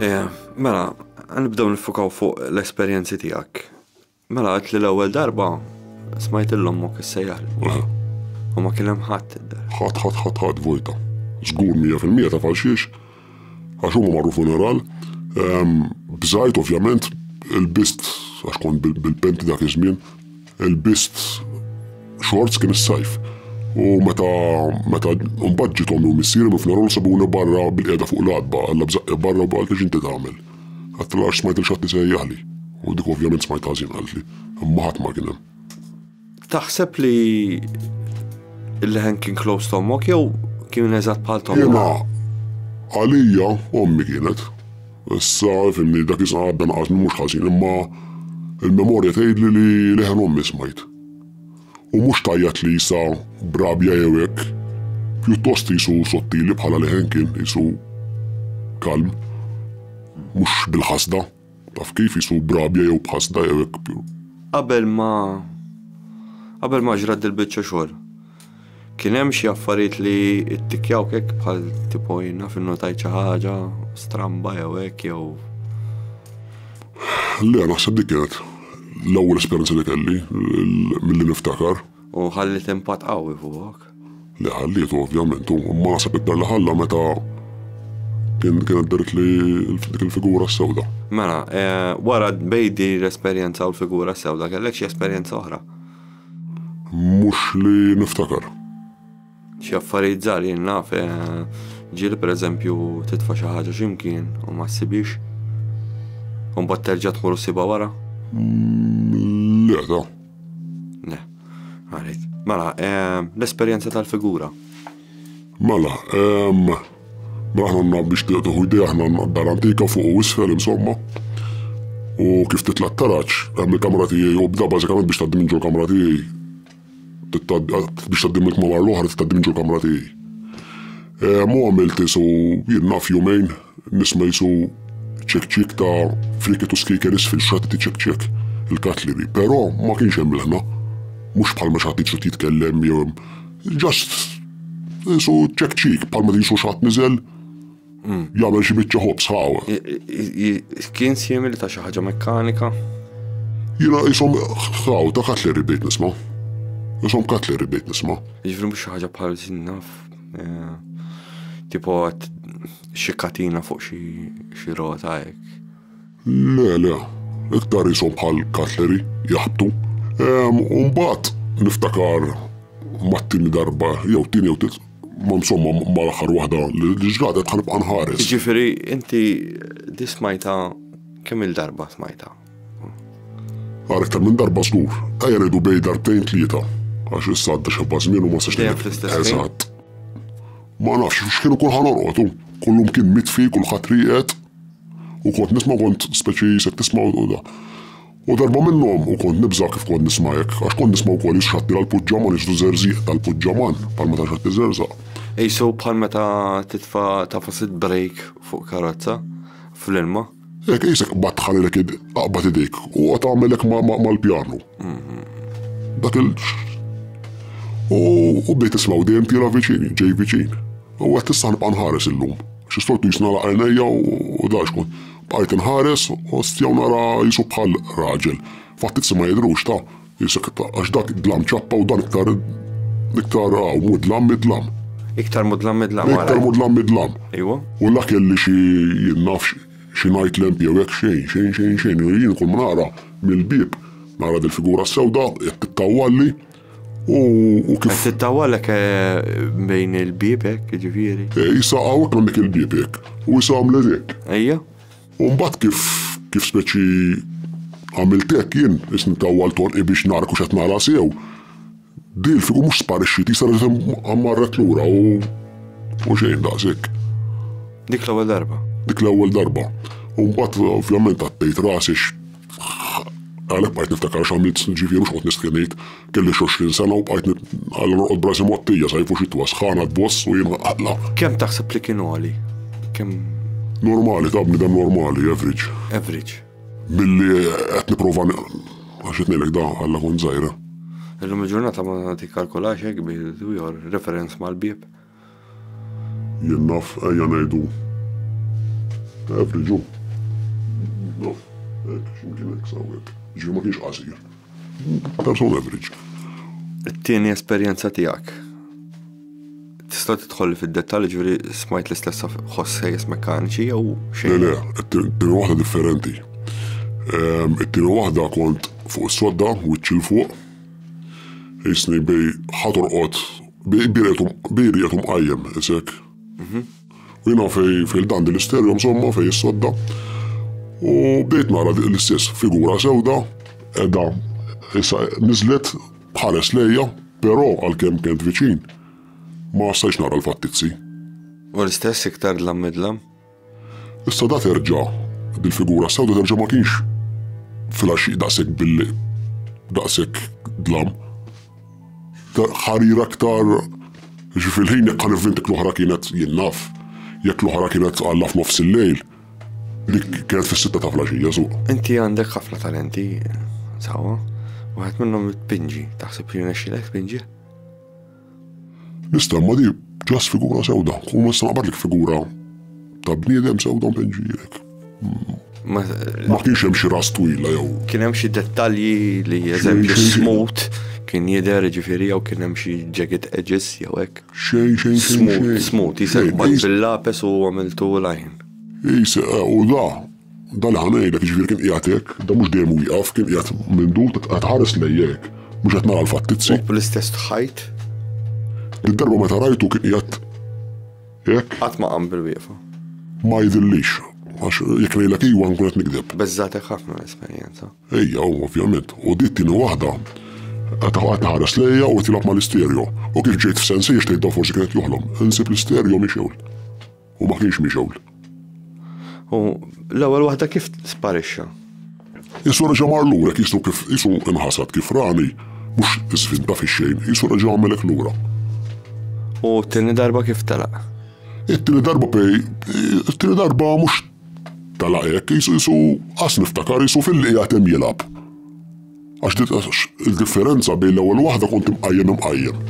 Eja, mela, nibdew nifukaw fuq l-esperjenzi tiegħek. Mela għad li l-ewwel darba smajt l-ommok is-sejjar. U ma kien hemm ħadd id-dar. Ħadd ħadd ħadd ħadd vojta. Żgur 100% ta' falxiex għax huma marru funeral. Bżajt ovvjament il-bist għax kont bil-penti dak iż-żmien. Ilbist xorts kien is-sajf. U meta meta mbagħad ġiet ommi u missieri minn Fnerol sabuni barra bil-qiegħda fuq l-għatba, alla bżaqqi barra u qaltli x'inti tagħmel. Għedtilha għax smajt lil xi ħadd isejjaħli. U dik ovvjament smajtha ħażin qaltli. Imma ħadd ma kien hemm. Taħseb li l-leħen kien close to ommok jew kien eżatt bħal t'ommok? Jiena għalija ommi kienet. Issa, fimni, dak iż-żmien għadda naqasni mhux ħażin, imma l-memorja tgħidli li leħen ommi smajt. U mhux tgħajjat li issa b'rabja jew hekk, pjuttost qisu sottili bħala leħen kien, qisu kalm. Mhux bil-ħasda, taf kif, qisu b'rabja jew b'ħasda jew hekk. Qabel ma qabel ma ġrat dil-biċċa xogħol. Kien hemm xi affarijiet li ttikjawk hekk bħal tipo jien naf innotajt xi ħaġa stramba jew hekk jew Le, naħseb dik kienet l-ewwel esperjenza li kelli milli niftakar. U ħalliet impatt qawwi fuqok? Li ħalliet ovvjament, u ma naħseb iktar li ħalla meta kien kienet daret li dik il-figura sewda. Mela, eh, wara bejdi l-esperjenza u l-figura sewda kellek xi esperjenza oħra? Mhux li niftakar. Xi affarijiet żgħar jien naf, ġieli pereżempju titfa' xi ħaġa x'imkien u ma ssibhiex. U mbagħad terġa' tmur u ssibha wara? Le, da. Le. Għarid. Mela, l-esperjenza tal-figura. Mela, Mela aħna għandna biex tieħu idea aħna għandna d-dar antika fuq u isfel insomma. U kif titla' t-taraġ, hemm il-kamra tiegħi u bda bażikament biex tgħaddi minn ġol kamra tiegħi. Biex tgħaddi mill-kmamar l-oħra tgħaddi minn ġol kamra tiegħi. Mu għamilt isu jien naf jumejn nisma' jisu ċek-ċek ta' friket u skiker isfel xatti ċek-ċek il-katlibi, però ma kienx hemm l-ħna. Mhux bħalma xatti ċut jitkellem jew Just qisu check cheek bħalma tisu xatt niżel jagħmel xi biċċa ħobs ħaw. Kien simili ta' xi ħaġa mekkanika? Jiena qishom ħaw ta' katleri bdejt nisma'. Qishom katleri bdejt nisma'. Jiġri mhux xi ħaġa bħal naf. Eh, tipo xi katina fuq xi rota hekk. Le, le, iktar qishom bħal cutlery, jaħbtu. U mbagħad niftakar mat-tieni darba, jew tieni jew tliet, ma insomma mal-aħħar waħda li ġradet ħanibqa' nħares. Jiġifieri inti di smajta kemm il-darba smajta? Għal iktar minn darba żgur, ejja ngħidu bej darbtejn tlieta, għax issa għadda xebba żmien u ma sax Eżatt. Ma nafx x'kienu kull ħanorqodu, kullum kien mitfi, kulħadd rieqed. U kont nisma' kont speċi jisek tisma' u da. U darba minnhom u kont nibża' kif kont nisma' hekk, għax kont nisma' wkoll jixxatti l-puġġaman jiġru żerżieq tal-puġġaman bħal meta xatt iżerżaq. Qisu bħal meta titfa' ta' fost id-brejk fuq karozza fl-ilma. Hekk qisek qbadt ħalilek id, aqbad idejk u qgħod agħmel hekk mal-pjanu. Dak il. U bdejt nisma' u dejjem tiela' viċin, ġej viċin. U għedt issa ħa nibqa' nħares illum. Xi stor pis nagħlaq għajnejja u dgħajx kont. Bqajt inħares, ostja u nara jisu bħal raġel. Fatt it-si ma jidhrux ta' jisek għax dak dlam ċappa u dan iktar iktar għaw mudlam midlam. Iktar mudlam midlam. Iktar mudlam midlam. Iwa. U la kelli xi jien nafx xi ngħid lemp jew hekk xejn xejn xejn xejn. Jien kull ma nara mill-bieb nara dil-figura sewda qed tittawwalli. U kif. Qed tittawalek eh, bejn il-bibek, ġifieri. Eh, issa hawnhekk għandek il-bibek u issa għamlet hekk. Ejja. U mbagħad kif kif speċi għamiltek jien isni tawwal tonqi biex nara kux qed nara sew. Dil figu mhux sparixxit issa għammarret lura u u xejn daqshekk. Dik l-ewwel darba. Dik l-ewwel darba. U mbagħad ovvjament għattejt rasix Għalhekk bqajt niftakar x'għamilt snin ġifieri x'qgħod nistħi ngħid, kelli x'għoxrin sena u bqajt għal norqod b'rasi mottija sajf u xitwa, sħana tboss u jien aqla. Kemm taħseb li kien għoli? Kemm Normali, ta' bniedem normali, average. Average. Billi qed nipprova għax qed ngħidlek da għalla kont żgħira. Illum il-ġurnata ma tikkalkolax hekk bi referenz mal-bieb. Jien naf, ejja ngħidu average hu. Naf, hekk, x'imkien hekk sa hawnhekk. Jiġifieri ma kienx qasir. Persuna average. It-tieni esperjenza tiegħek. Tista' tidħol fid-dettall ġifieri smajt l-istess ħoss sejjes mekkaniċi jew xejn? Le, le, it-tieni waħda differenti. Ehm, it-tieni waħda kont fuq is-sodda, wiċċ il fuq, jisni bej ħatorqod Biri qed mqajjem isek. U jiena fej fil-dan din l-isterjom somma fej is-sodda. U bdejt nara l-istess figura sewda edha issa niżlet bħares lejja, però għalkemm kent viċin ma stajtx nara l-fattizzi. U l-istess iktar dlam midlam. Issa da terġa' dil-figura sew da terġa' ma kienx fil-għaxxiq daqshekk bil daqshekk dlam. Ħarir aktar ġi fil-ħin jekk ħanivvint jekk l-oħra kienet jien naf, jekk l-oħra kienet għalla f'nofs il-lejl, dik kienet fis-sitta ta' flaxija suq. Inti għandek ħafna talenti, sawa, waħed minnhom it-pinġi, taħseb li nexxilek tpinġi? L-istamma di ġas figura sewda, u ma naqbadlek figura ta' bniedem sewda mpenġilek. Ma kienx hemm xi ras twila jew. Kien hemm xi dettalji li eżempju smut kien jidher ġifieri jew kien hemm xi jagged edges jew hekk. Xejn xejn xejn. Smut, jisek bil-lapes u għamiltu lajn. Jisek u da, Dan aħna ngħidlek, jiġifieri kien qiegħed hekk, dan mhux dejjem wieqaf, kien qiegħed minn dur, qed iħares lejja hekk, mhux qed nara l-fattizzi. U bl-istess ħajt? Id-darba meta rajtu kien qiegħed hekk. Qatt ma qam bil-wieqfa. Ma jidhirlix, għax jekk ngħidlek iwa nkun qed nikdeb. Beżżagħtek ħafna l-esperjenza. Ejja, u ovvjament. U di t-tieni waħda qed iħares lejja u qed jilgħab mal-isterjo. U kif ġejt f'sensi għax tgħidha forsi kien qed joħlom, insib l-isterjo mixewl. U ma kienx mixgħul. U l-ewwel waħda kif sparixxa? Isu reġa' mar lura kisu kif isu inħasad kif rani mhux żvinta fix-xejn, isu reġa' għamilek lura. U t-tieni darba kif telaq? It-tieni darba pej, it-tieni darba mhux telaq hekk, isu isu qas niftakar isu fil-li qiegħed hemm jilgħab. Għax nitqax il-differenza bejn l-ewwel waħda kont imqajjem imqajjem.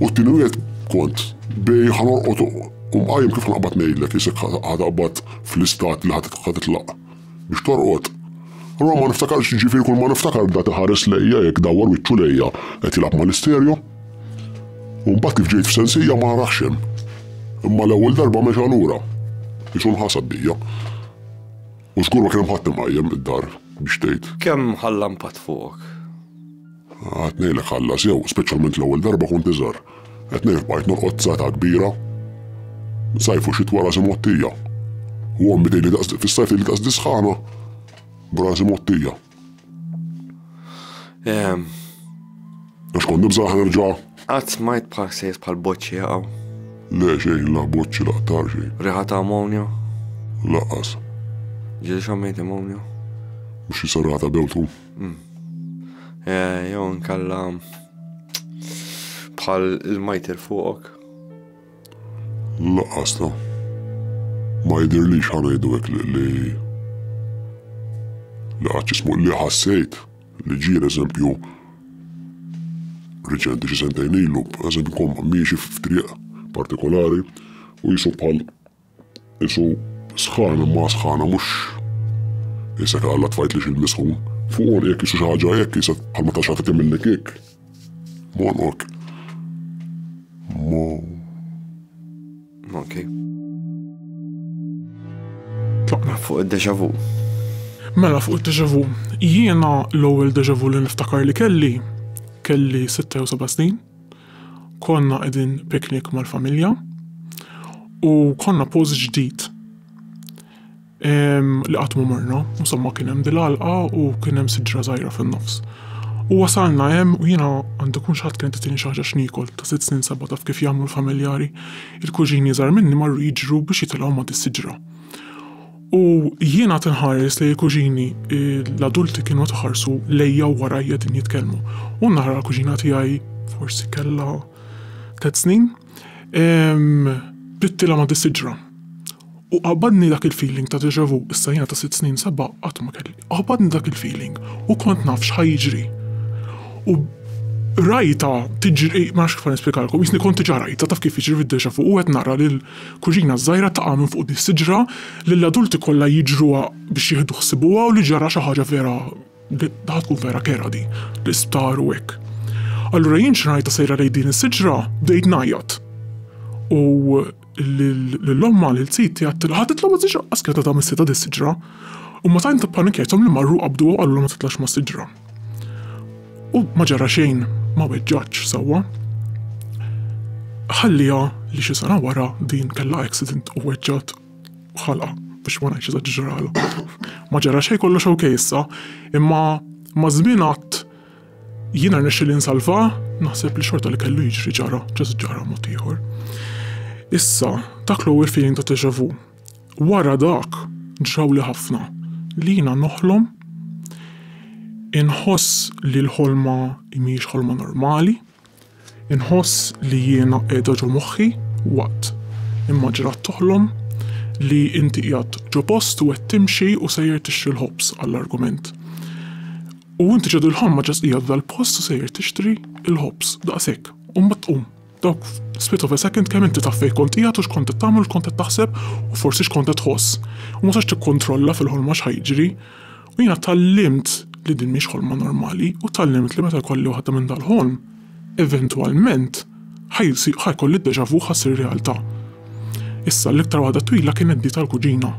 U t-tieni wieħed kont bej ħanorqod u mqajjem kif ħanqbad ngħidlek isek ħataqbad fl-istat li ħatitlaq biex torqod. Allura ma niftakarx ġifieri kull ma niftakar dat iħares lejja hekk dawwar wiċċu lejja qed jilgħab mal-isterjo. U mbagħad kif ġejt f'sensija ma narax hemm. Imma l-ewwel darba mexa lura. Isu nħasad bija. U żgur ma kien hemm ħadd imqajjem id-dar biex tgħid. Kemm ħalla impatt fuqok? Qed ngħidlek ħalla sew, speċjalment l-ewwel darba kont iżgħar. Qed ngħidlek bqajt norqod sata kbira. Sajf u xitwa rasi mgħottija. U ommi tgħidli daqs fis-sajf tgħidli daqs disħana. B'rasi mgħottija. Għax kont nibża ħanerġa. Għad smajt bħal sejs bħal boċċi jaqaw. Le xej, la boċċi la tar xej. Riħa ta' ammonja? Laqas. Ġil xammejt ammonja? Mux jisarrata bewtu. Mm. Eh, Jow nkalla bħal il-majter fuqok. Laqqas la. Ma jidhirlix ħa ngħidu hekk li li li qatt jismu li ħassejt li ġiel eżempju riċenti xi sentejn ilu, eżempju kom miexi f'triq partikolari u jisu bħal Isu sħan imma sħana mhux isek għalla tfajt li xil-misħun. Fuq on jek isu xaħġa jek jisek bħal ma taxħat timilli kik. Mon ok. Mon. Ok. Tlaqna fuq id-deja vu. Mela fuq id-deja vu. Jiena l-ewwel deja vu li niftakar li kelli kelli 6 u 7 snin. Konna qegħdin picnic mal-familja u konna post ġdid ehm, li qatt ma morna, insomma kien hemm dil-għalqa u kien hemm siġra żgħira fin-nofs. U wasalna hemm u jiena għandu kun xaħat kienet titini xi ħaġa x'niekol ta' sitt snin seba' taf kif jagħmlu l-familjari. Il-kuġini żgħar minni marru jiġru biex jitilgħu ma' dis-siġra. U jiena qed inħares lejn il-kuġini, l-adulti kienu qed iħarsu lejja u warajja din jitkellmu. U nara l-kuġina tiegħi forsi kellha tliet snin, bdittilha ma' dis-siġra. U qabadni dak il-feeling ta' déjà vu, issa jiena ta' sitt snin seba' qatt ma kelli, qabadni dak il-feeling u kont naf x'ħa jiġri. U rajtha tiġri, ma nafx kif ħa nispjegalkom, jisni kont diġà rajtha, taf kif jiġri fid-déjà vu u qed nara lil Kuġina żgħira taqa' minn fuq dis-siġra li l-adulti kollha jiġruha biex jieħdu ħsibuha u li ġara xi ħaġa vera daħ tkun vera kerha di, l-isptar u hekk. Allura jien xi ngħidha sejra lejn din is-siġra bdejt ngħajjat. U lil ommha lil ziti għattilha ħa titla' ma' siġra qas kienet għadha missitha dis-siġra. U ma tant ippanikjajthom li marru qabduha u qalulha ma titlax mas-siġra. U ma ġara xejn ma weġġaċ sewwa. Ħalliha li xi sena wara din kellha accident u weġġat ħalqa biex ma ngħidx eżaġġerala. Ma ġara xejn kollox ok issa, imma ma' żmien għadd jiena rnexxieli nsalvha, naħseb li xorta li kellu jiġri ġara, ġara mod ieħor. Issa, dak l-ewwel feeling ta' deja vu. Wara dak, ġrawli ħafna li jiena noħlom, inħoss li l-ħolma mhijiex ħolma normali, inħoss li jiena qiegħda ġo moħħi waqt immaġinat toħlom li inti qiegħed ġo post u qed timxi u sejjer tixtri l-ħobż għall-argument. U inti ġo dil-ħolma ġast qiegħed f'dal-post u sejjer tixtri l-ħobż, daqshekk, u mbagħad tqum. Dawk split of a second kemm inti taf fejn kont qiegħed u x'kont qed tagħmel u x'kont qed taħseb u forsi x'kont qed tħoss. U ma sax tikkontrolla fil-ħolma x'ħa jiġri. U jiena tgħallimt li din mhix ħolma normali u tgħallimt li meta jkolli waħda minn dal-ħolm, eventwalment ħa jsir ħa jkolli d-deja vu ħa ssir realtà. Issa l-iktar waħda twila kienet di tal-kuġina.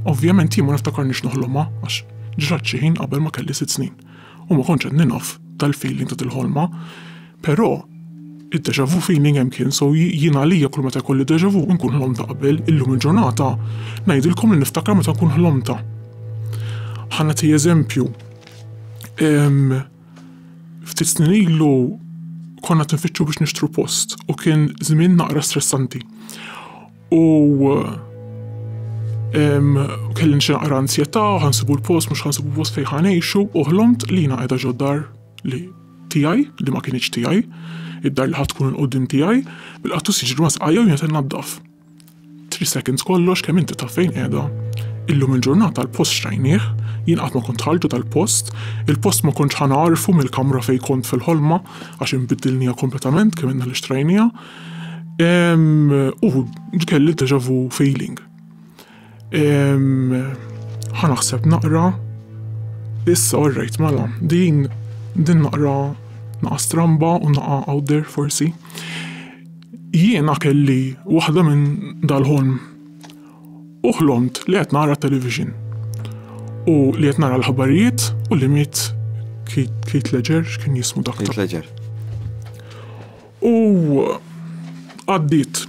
Ovvjament jien ma niftakarnix noħlomha għax ġrat xi ħin qabel ma kelli sitt snin. u ma kontx qed ninaf tal-feeling ta' dil-ħolma, però id-deja vu feeling hemm kien so jien għalija kull meta jkolli deja vu nkun ħlomta qabel, illum il-ġurnata ngħidilkom li niftakar meta nkun ħlomta. Ħa nagħti eżempju. Ftit snin ilu konna tinfittxu biex nixtru post u kien żmien naqra stressanti. u kelli xi naqra ansjetà, ħansibu l-post, mhux ħansibu post fejn ħanejxu, u ħlomt li jiena qiegħda ġoddar li tiegħi, li ma kienx tiegħi, id-dar li ħadd tkun il-qudiem tiegħi, bil-qattus jiġri ma' sqajja u jiena naddaf. Three seconds kollox kemm inti taf fejn qiegħda. Illum il-ġurnata l-post xtrajnieh, jien qatt ma kont ħalġu tal-post, il-post ma kontx ħanarfu mill-kamra fejn kont fil-ħolma għax inbiddilniha kompletament kemm inna li xtrajniha, U kelli deja vu feeling. Ħa naħseb naqra. Issa orrejt mela, din din naqra naqa stramba u naqa out there forsi. Jiena kelli waħda minn dal-ħolm. U ħlomt li qed nara television. U li qed nara l-ħabarijiet u li miet Keith Ledger, x'kien jismu dak? Keith Ledger. U għaddiet.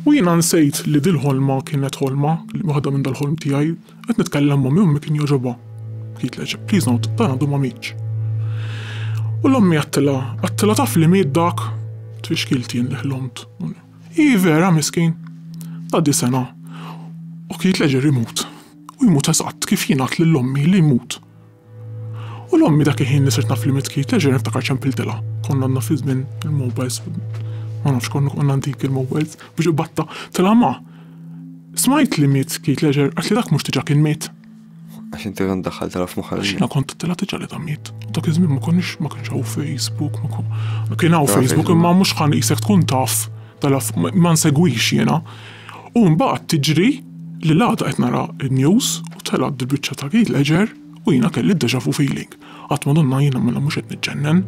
U jiena nsejt li dil-ħolma kienet ħolma, li waħda minn dal-ħolm tiegħi. Qed nitkellem m'ommi u ommi kien jogħġobha. Bħid leġeb, please note, dan għadu ma mietx. U l-ommi għattilha, għattilha taf li miet dak? Tfixkilt jien li ħlomt. Ii vera miskin. Tgħaddi sena. U Keith Ledger imut. U jmut eżatt kif jien għidt lil ommi li jmut. U l-ommi dak il-ħin li sirt naf li mitkit, terġa' niftakar ċempiltilha. Konna għandna fi żmien il-mobiles, ma nafx konna konna antik il-mobiles, biex batta, tela ma. Smajt li miet kit leġer, għat li dak mhux diġà kien miet. Għax inti għan daħħal tela f'moħħa. Għax jiena kont tela diġà li ta' miet. Dak iż-żmien ma konniex ma kienx hawn Facebook, ma kon. Kien hawn Facebook imma mhux ħan isek tkun taf tela ma nsegwix jiena. U mbagħad tiġri li l-għada qed nara n-news u telgħet dil-biċċa ta' Keith Ledger u jiena kelli d-deja vu feeling. Għadt Madonna jiena mela mhux qed niġġennen.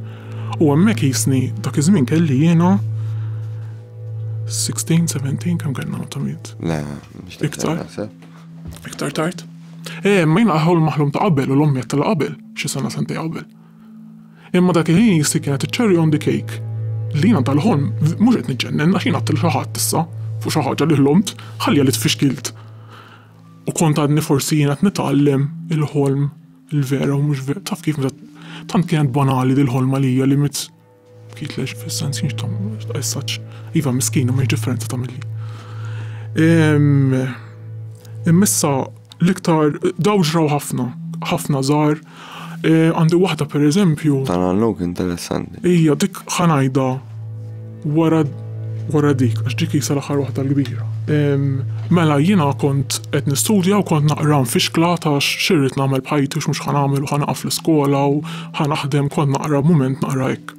U hemmhekk qisni dak iż-żmien kelli jiena 16, 17 kemm kellna meta miet? Le, mhux iktar. Iktar tard. Eh, ma jiena ħol maħlum ta' qabel u l-ommi qed qabel, xi sena sentej qabel. Imma dak il-ħin jissi kienet iċ-cherry on the cake li jiena dal-ħolm mhux qed niġġennen għax jien għedt lil xi ħadd issa fuq xi ħaġa li ħlomt, ħalliha li tfixkilt. U kont għadni forsi jiena qed nitgħallem il-ħolm il-vera u mhux taf kif meta tant kienet banali dil-ħolma li hija li Kitlex fis-sens kienx ta' essaċ. Iva miskin u mhix differenza ta' milli. Immissa l-iktar daw ġraw ħafna, ħafna żgħar. E, għandi waħda pereżempju. Tal-għallok interessanti. Ija, dik ħanajda wara wara dik, għax dik jisa l-aħħar waħda l-kbira. Mela jiena kont qed nistudja u kont naqra nfixkla ta' xirrit nagħmel bħajti u x'mhux ħanagħmel u ħanaqaf l-iskola u Ħa naħdem, kont naqra, mument naqra hekk.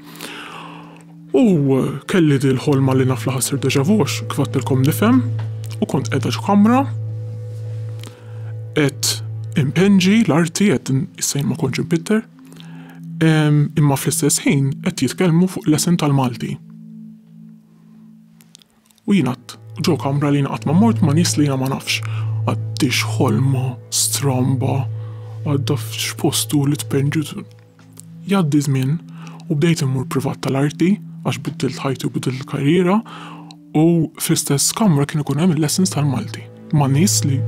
U kelli dil ħolma li naf li ħassir deja vu għax kif għattilkom nifhem u kont qiegħda x'kamra qed impenġi l-arti qed issejn ma kontx impitter imma fl-istess ħin qed jitkellmu fuq l-esen tal-Malti. U jien għadt, ġo kamra li jien qatt ma mort ma' nies li jiena ma nafx. Għaddix ħolma stramba għadda f'x'post hu li tpenġiet. Jgħaddi żmien u bdejt immur privat tal-arti għax biddilt ħajti u biddilt il-karriera u fl-istess kamra kien ikun hemm il-lessons tal-Malti ma' nies li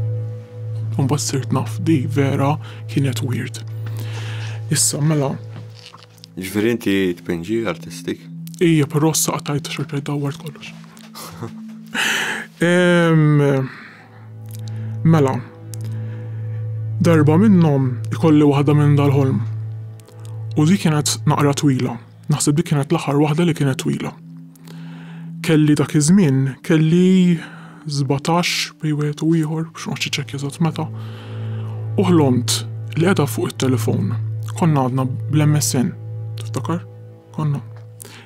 mbagħad sirt naf di vera kienet weird. Issa mela Ġifieri inti tpinġi artistik? Ija, però s-saqa tajt xorta jdawwar kollox. Mela, darba minnhom ikolli waħda minn dal-ħolm. U dik kienet naqra twila. Naħseb dik kienet l-aħħar waħda li kienet twila. Kelli dak iż-żmien kelli sbatax bejn wieħed u ieħor, biex ma noqgħodx iċċekkja eżatt meta, u ħlomt li qiegħda fuq it-telefown. Konna għadna bl-MSN, tiftakar? Konna.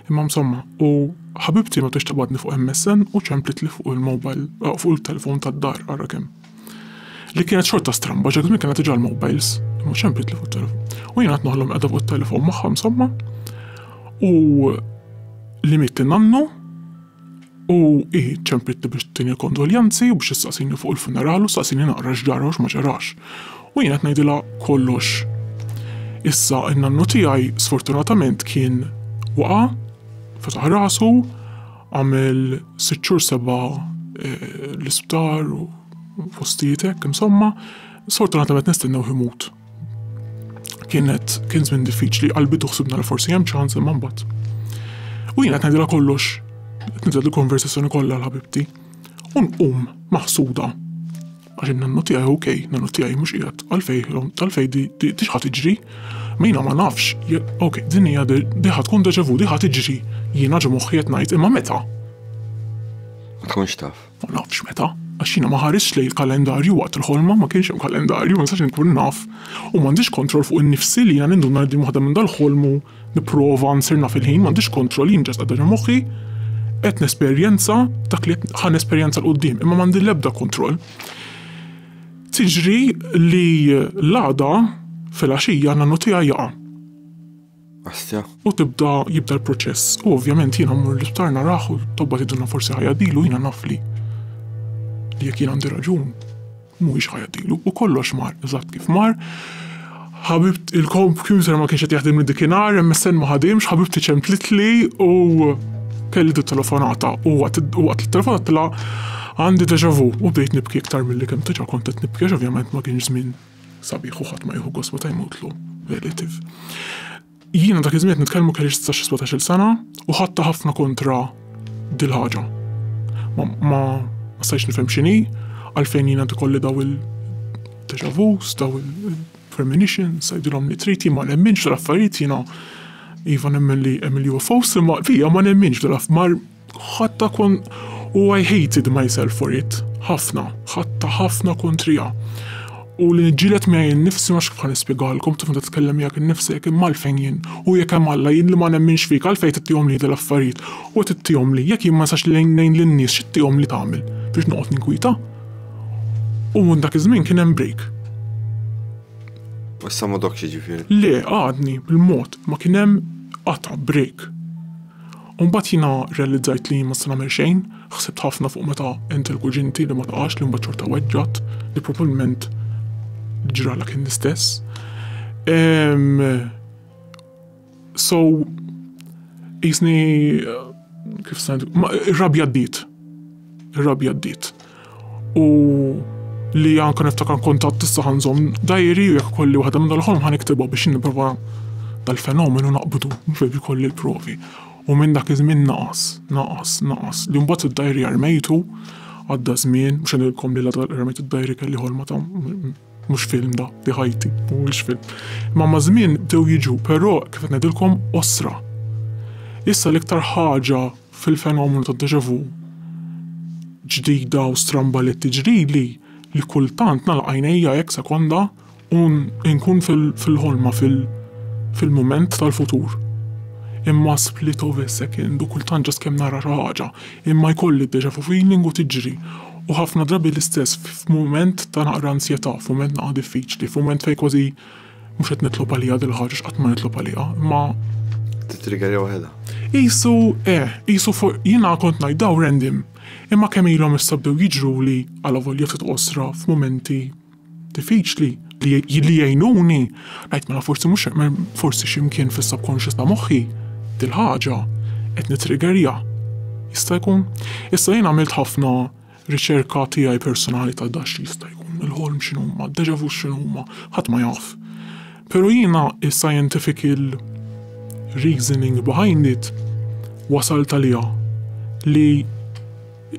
Imma msomma, u ħabibti ma tix tibgħatni fuq MSN u ċemplitli fuq il-mobile, fuq il-telefown tad-dar, ara kemm. Li kienet xorta stramba, ġek żmien kienet iġal mobiles, mhux hemm pitli fuq telefon. U jiena qed noħlom qiegħda fuq telefon magħha insomma. U li mitt nannu u hi ċempitni biex tini kondoljanzi u biex issaqsini fuq il-funeral u saqsini naqra x'ġara u ma ġarax. U jiena qed ngħidilha kollox. Issa n-nannu tiegħi sfortunatament kien waqa' fetaħ rasu Għamel sitt xhur seba' eh, l-isptar u fostietek, insomma, sfortunatament nistennew imut. Kienet kien żmien diffiċli, qalbi tuħsibna li forsi hemm ċans imma mbagħad. U jiena qed ngħidilha kollox, qed nibda l-konversazzjoni kollha l-ħabibti. U nqum maħsuda. Għax in-nannu tiegħi hu kej, nannu tiegħi mhux qiegħed. Għalfej, għalfej di di ħadd iġri? Mejna ma nafx, ok, din hija di ħadd tkun deja vu, di ħadd iġri. Jiena ġo moħħi qed ngħid, imma meta? Ma tkunx taf. Ma nafx meta għax jiena ma ħarisx lejn il-kalendarju waqt il-ħolma ma kienx hemm kalendarju, ma nistax inkun naf. U m'għandix kontroll fuq innifsi li jiena ninduna li waħda minn dal-ħolmu Nipprova nsir naf il-ħin, m'għandix kontroll, jien ġast qiegħda ġo moħħi, qed nesperjenza dak li qed ħa nesperjenza 'l quddiem, imma m'għandi l-ebda kontroll. Tiġri li l-għada filgħaxija nannu tiegħi jaqa'. Astja. U tibda jibda l-proċess. U ovvjament jiena mmur l-isptar naraħ u tobba tiduna forsi ħajja dilu jiena naf li li jekk jien għandi raġun. Mhuwiex ħajatilu, u kollox mar eżatt kif mar. Ħabibt il-kompjuter ma kienx qed jaħdimli dikinhar, MSN ma ħadimx, ħabibti ċemplitli u kelli dit telefonata u waqt li telefonatilha għandi deja vu u bdejt nibki iktar milli kemm diġà kont qed nibki għax ovvjament ma kienx żmien sabiħ u ħadd ma jieħu gost meta jmutlu relative. Jiena dak iż-żmien qed nitkellmu kellix tsax xi sbatax-il sena u ħadtha ħafna kontra dil-ħaġa. Ma ma stajtx nifhem x'inhi, għalfejn jiena qed ikolli daw il-déjà vus, daw il-premonitions, għidilhom li trid, jien ma nemminx f'dal-affarijiet jiena iva nemmen li hemm il-UFOs imma fija ma nemminx f'dal-affarijiet. Ħadtha kon u I hated myself for it, ħafna, ħadtha ħafna kontrija. U li niġġieled miegħi nnifsi ma kif nispjegalkom kif meta tkellem miegħek innifsek imma għalfejn jien. U jekk hemm Alla jien li ma nemminx fik għalfejn qed ittihom lili l-affarijiet u qed ittihomli. Jekk jien ma nistax ngħin lin-nies x'ittihomli tagħmel biex noqgħod ninkwieta? U minn dak iż-żmien kien hemm break. U issa ma dokx jiġifieri? Le, għadni bil-mod ma kien hemm qata' break. U mbagħad jiena rrealizzajt li jien ma se nagħmel xejn, ħsibt ħafna fuq meta għent il-kuġinti li ma tqax li mbagħad xorta weġġgħet li probabbilment ġralha kien l-istess. Um, so, jisni, kif sant, ir-rabja d-diet. Ir-rabja d-diet. u li anke niftakar kuntatt issa ħanżomm dajri u jekk kolli waħda minn dal-ħolm ħaniktibha biex nipprova dal-fenomenu naqbdu mhux biex ikolli l-provi. U minn dak iż-żmien naqas, naqas, naqas. Li mbagħad id-dajri armejtu, għadda żmien, mhux ngħidilkom li la darba rmejt id-dajri kelli ħolma ta' mhux film da, di ħajti, mhuwiex film. Imma ma' żmien bdew jiġu, però kif qed ngħidilkom osra. Issa l-iktar ħaġa Fil-fenomenu tad-déjà vu, ġdida u stramba li tiġrili li kultant nagħlaq għajnejja hekk sekonda u nkun fil-ħolma, fil-mument tal-futur. Imma split of a second u kultant ġast kemm nara xi ħaġa, imma jkolli d-déjà vu feeling u tiġri. U ħafna drabi l-istess f'mument ta' naqra ansjetà, f'mument naqra diffiċli, f'mument fejn kważi Mhux qed nitlob għaliha dil-ħaġa x'qatt ma nitlob għaliha, imma titriggerja waħedha. Isu, eh, isu fuq jiena kont ngħid daw rendim. Imma kemm ilhom issa bdew jiġru li għala volja ftit qosra f'mumenti diffiċli li li jgħinuni, ngħid mela forsi mhux forsi x'imkien fis-subconscious ta' moħħi dil-ħaġa qed nitriggerja. Jista' jkun. Issa jien għamilt ħafna Riċerka tiegħi personali ta' da x'jista' jkun, il-ħolm x'inhuma, d-deja vus x'inhuma, ħadd ma jaf. Pero jiena is-scientifical reasoning behind it wasalt għaliha li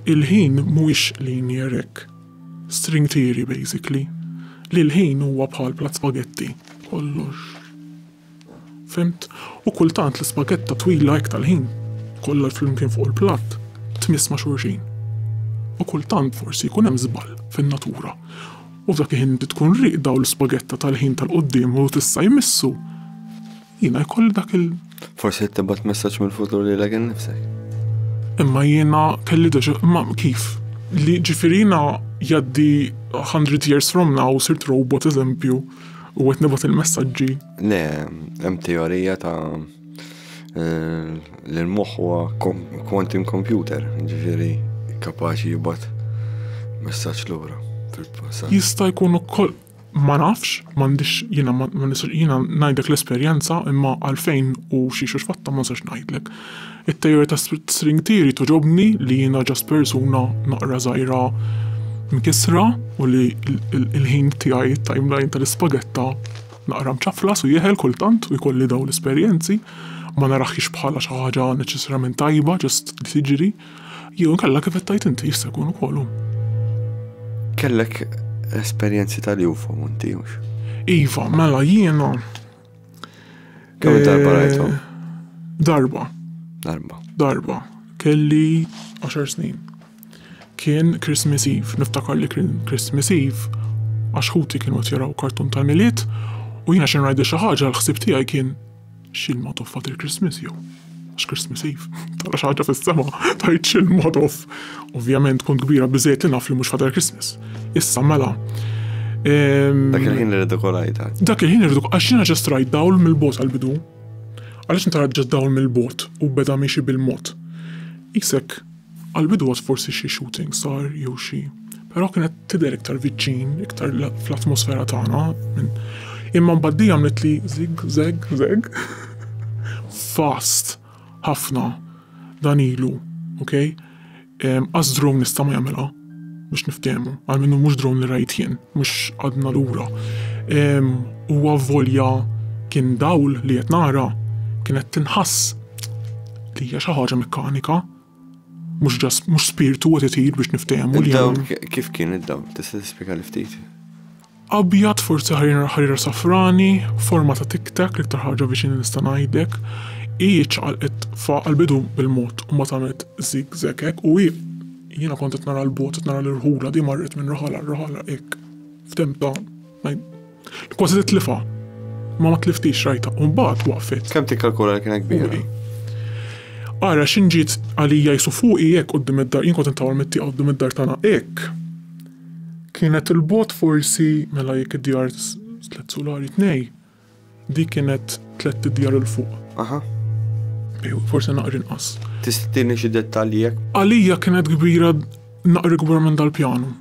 l-ħin mhuwiex linear hekk, string theory basically, li l-ħin huwa bħal plat spagetti, kollox Fhimt? U kultant l-ispagetta twila hekk tal-ħin, kollha flimkien fuq il-platt, tmiss ma' xulxin. U kultant forsi jkun hemm żball fin-natura u f'dak il-ħin inti tkun rieqda u l-ispagetta tal-ħin tal-quddiem hu s'issa jmissu, jiena jkolli dak il-. Forsi qed tibgħat messaġġ mill-futur lilek innifsek. Imma jiena kelli deja, imma kif? Li ġifieri jiena jgħaddi hundred years from now u sirt robot eżempju. U għet nibot il-messagġi? Le, hemm teorija ta' eh, li l-moħ huwa quantum computer, ġifiri kapaċi jibat messaġġ lura fil-passat. Jista' jkun ukoll ma nafx, m'għandix jiena jiena ngħidlek l-esperjenza imma għalfejn u xi xux fatta ma nistax ngħidlek. It-tejjer ta' string theory toġobni li jiena ġast persuna naqra żgħira mkissra u li l-ħin tiegħi t-timeline tal-ispagetta naqra mċaflas u jeħel kultant u jkolli dawn l-esperjenzi. Ma narahiex bħala xi ħaġa neċessarjament tajba ġast li tiġri. Jew inkella kif qed tgħid inti jista' jkun ukoll hu. Kellek esperjenzi tal-UFO inti hux? Iva, mela jiena Kemm darba eh, rajthom? Darba. Darba. Darba. Kelli 10 snin. Kien Christmas Eve, niftakar li kien Christmas Eve, għax ħuti kienu qed jaraw kartun tal-miliet u jiena xi ngħidli xi ħaġa l-ħsieb tiegħi kien xilma toffat il-Christmas jew. X'Christmas Eve? Tara xi ħaġa fis-sema, tajt xi mod off. Ovvjament kont kbira biżejjed li naf li mhux ħadar Christmas. Issa mela. Ehm, Dak il-ħin li rridu kolajta. Dak il-ħin irridu għax jiena ġest rajt dawl mill-bot għal-bidu. Għaliex intara ġest dawl mill-bot u beda miexi bil-mod. Isek Għall-bidwa forsi xi shooting sar jew xi, però kienet tidher iktar viċċin, iktar fl-atmosfera tagħna. Imma mbagħad dejjem għamlet li zig, zeg, zeg, fast, ħafna, dan ilu, ok? Għaż drone nista' ma jagħmilha. Biex niftehmu, għalmenu mhux drone li rajt jien, mhux għadna lura. Huwa volja kien dawl li qed nara kienet tinħass li hija xi ħaġa mekkanika mhux ġas mhux spirtu qed itir biex niftehmu li Kif kien id-dawl? Tista' tispjega li ftit? Abjad, forsi ħarira ħarira safrani, forma ta' tiktak l-iktar ħaġa viċin nista' ngħidlek. Hi ċaqalqet fa' għall-bidu bil-mod u mbagħad għamlet zigzag hekk u hi jiena kont qed nara l-bogħod qed nara l-irħula di marret minn raħal għal raħal hekk f'temp ta' li kważi titlifha. Ma ma tliftix rajta u mbagħad waqfet. Kemm tikkalkula li kienet kbira? Ara x'inġiet għalija jisu fuqi hekk quddiem id-dar, jien kont intawal mit-tieqa quddiem id-dar tagħna hekk. Kienet il bogħod forsi mela jekk id djar tliet sulari tnej dik kienet tliet idjar il fuq. Aha. Ejw forsi naqra inqas. Tista' tini xi dettalji jekk. Għalija kienet kbira naqra ikbar minn dal pjanu.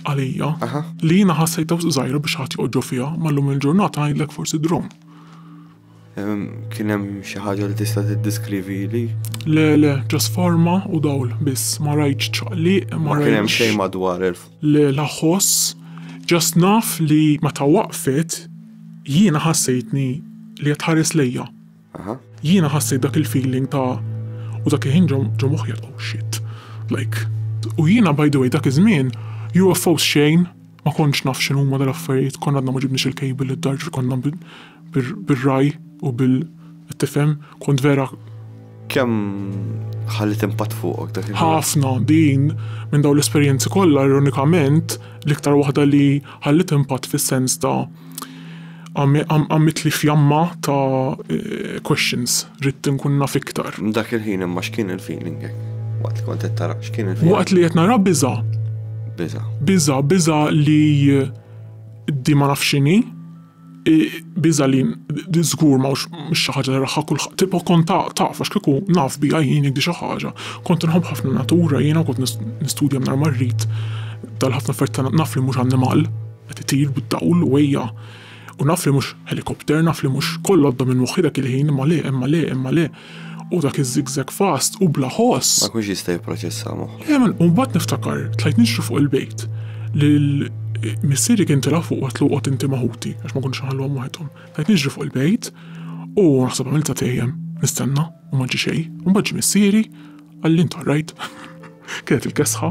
Għalija. Aha. Li jiena ħassejtha wisq żgħira biex ħadd joqgħod ġo fiha ma llum il ġurnata ngħidlek forsi drone. Kien hemm xi ħaġa li tista' tiddiskrivili? Le, le, ġas forma u dawl biss, ma rajtx ċaqliq, ma rajtx. Kien hemm xejn madwar elf. Le, la ħoss, ġast naf li meta waqfet jiena ħassejtni li qed tħares lejja. Jiena ħassejt dak il-feeling ta' u dak il-ħin ġo moħħi oh shit. Like, u jiena by the way dak iż-żmien UFOs xejn, Ma kontx naf x'inhuma dal-affarijiet, konna għadna ma ġibniex il-cable id-dar ġifieri konna bir-ragħaj u bil qed tifhem, kont vera. Kemm ħalliet impatt fuqok dak il-ħin? Ħafna, din minn dawn l-esperjenzi kollha ironikament l-iktar waħda li ħalliet impatt fis-sens ta' Għamiltli fjamma ta' questions, ridt inkun naf iktar. Dak il-ħin imma x'kien il-feeling hekk? Waqt li kont qed tara, x'kien il-feeling? Waqt li qed nara biża'. Biża'? Biża', biża' li di ma nafx x'inhi, biża' li żgur ma mhux xi ħaġa li raha kulħadd, tipo kont taf għax kieku naf biha jien jekk di xi ħaġa. Kont inħobb ħafna n-natura jiena u kont nistudja mingħajr ma rrid, tal-ħafna affarijiet, naf li mhux annimal. Qed itir bid-dawl u ejja. U naf li mhux helicopter, naf li mhux koll għadda minn moħħi dak il-ħin, imma le, imma le, imma le. U dak iz-zigzag fast u bla ħoss. Ma jkunx jista' jipproċessa moħħu. Le, u mbagħad niftakar, tlajt nixri fuq il-bejt, li missieri kien tela' fuq u għedtlu oqgħod inti ma' ħuti, għax ma kontx inħalluhom waħedhom. Tlajt nixri fuq il-bejt u naħseb għamilt satejjem, nistenna, u ma ġie xejn. U mbagħad ġie missieri, Għalli intu rajt, kienet il-kesħa,